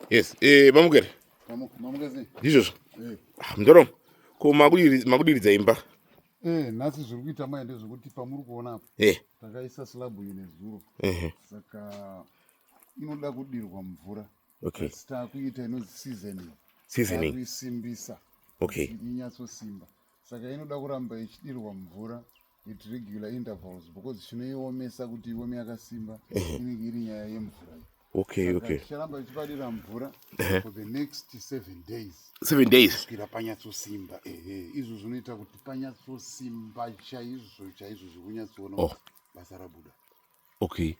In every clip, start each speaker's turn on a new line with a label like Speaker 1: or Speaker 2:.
Speaker 1: Yes, eh mamugere. Mamugere. Ndizvo. Eh. Ah, Mdoro. Ko makudiri makudiridza imba. Eh, nhasi zviri kuita mai ndezvekuti pamuri kuona apa. Eh. Takaisa slab ine zuro. Eh. Saka inoda kudirwa mvura okay. asi taakuita inonzi seasoning seasoning kuisimbisa okay. inyatsosimba saka inoda kuramba ichidirwa mvura at regular intervals because chinoiomesa kuti iome yakasimba inenge iri nyaya yemvura okay okay ticharamba tichipadira mvura for the next seven days seven days kusvira panyatsosimba ehe izvo zvinoita kuti panyatsosimba chaizvo chaizvo zvekunyatsoona oh. basa rabuda okay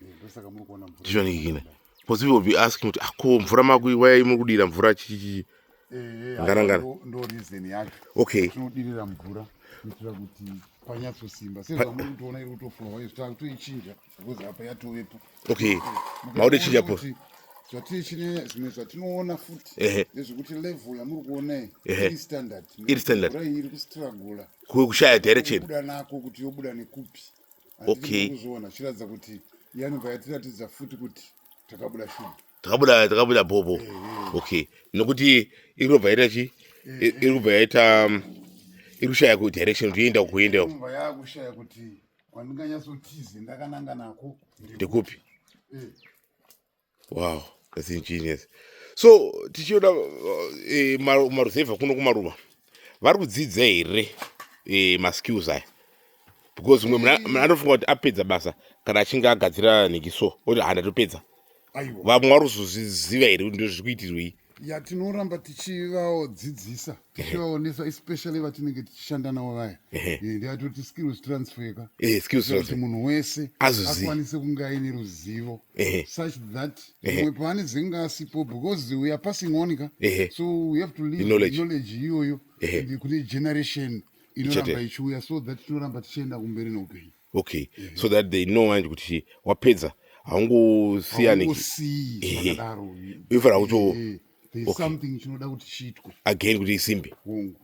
Speaker 1: ndizvonikina because people will be asking kuti ako ah, mvura makui wayai muri kudira mvura chichichii eh, ngarangana eh, ndo reason yacho okay tinodirira mvura kuitira kuti panyatsosimba sezvamuri kutoona iri kutofura wayo zvitava kutoichinja because apa yatovepo okay maude chinja po zvatiri chine zvimwe zvatinoona futi nezvekuti level yamuri kuonai iri standard iri standard iri kustragula kushaya direction kuda nako kuti yobuda nekupi okay kuzviona zvichiratidza kuti yanobva yatiratidza futi kuti takabuda shuga takabuda takabuda bhobho eh, eh. okay nokuti iri kubva yaita chi eh, iri kubva yaita um, iri kushaya ku direction kuti yoenda kuenda kubva yakushaya kuti kwandinganyatsotize ndakananga nako ndekupi wow that's ingenious so tichiona eh, ma- maruzevha kuno kumaruva vari kudzidza here eh, maskills aya because mumwe mna- mna anofunga kuti apedza basa kana achinge agadzira neki so oti hana topedza aiwa vamwe vari kuzoziva here kuti ndozviri kuitirwei ya tinoramba tichivadzidzisa tichivaonesa especially vatinenge tichishanda navo vaya eh, ndiatoti skills transferka eh, kuti munhu wese akwanise kunge aine ruzivo such that mumwe paane dzenge asipo because we are passing on ka so we have to leave knowledge iyoyo kune generation inoramba ichiuya so that tinoramba tichienda kumberi neupenyu okay mm -hmm. so that they know manje kuti wapedza haungosiyani ifana kuto again kuti isimbi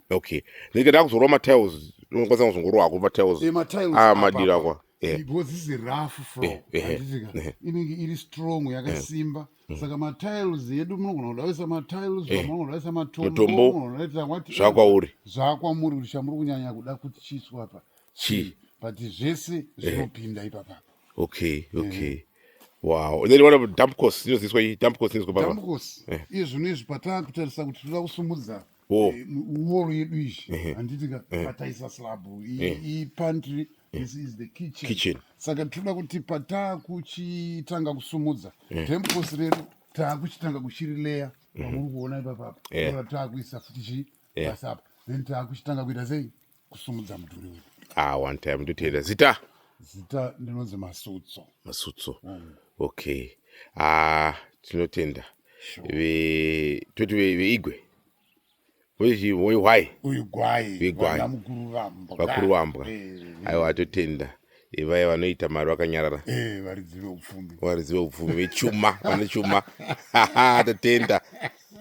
Speaker 1: okay ndinenge ndakuzorwa matiles unokwanisa kuzongorwa hako matiles eh, ah, madira akwa eh. because this is rough fro eh, handizika inenge iri strong yakasimba mm. saka matiles edu munogona kudavisa matiles munogona kudavisa matombo zvakwauri zvakwamuri kuti chamuri kunyanya kuda kuti chiiswa apa chii but zvese eh. zvinopinda eh. ipapa okay okay eh. wow and then what about dump cost inoziviswa iyi dump cost inoziviswa papa dump cost eh. iye zvino izvi patanga kutarisa kuti toda kusumudza oh. eh, wall yedu izvi eh. handiti ka eh. pataisa slab iyi eh. pantry eh. this is the kitchen, kitchen. saka tinoda kuti pataakuchitanga kusumudza yeah. temposi redu taakuchitanga kuchirileya pamuri mhm. kuona ipapapa taakuisa futi chii basa apa then taakuchitanga kuita sei kusumudza mudhuri uyu ah one time ndoteerera zita zita ndinonzi masutso masutso mm. okay ah tinotenda sure. toti veigwe ve wehwai vakuru vambwa aiwa atotenda vaya vanoita mari vakanyarara eh, varidzi veupfumi vechuma vane chuma tatenda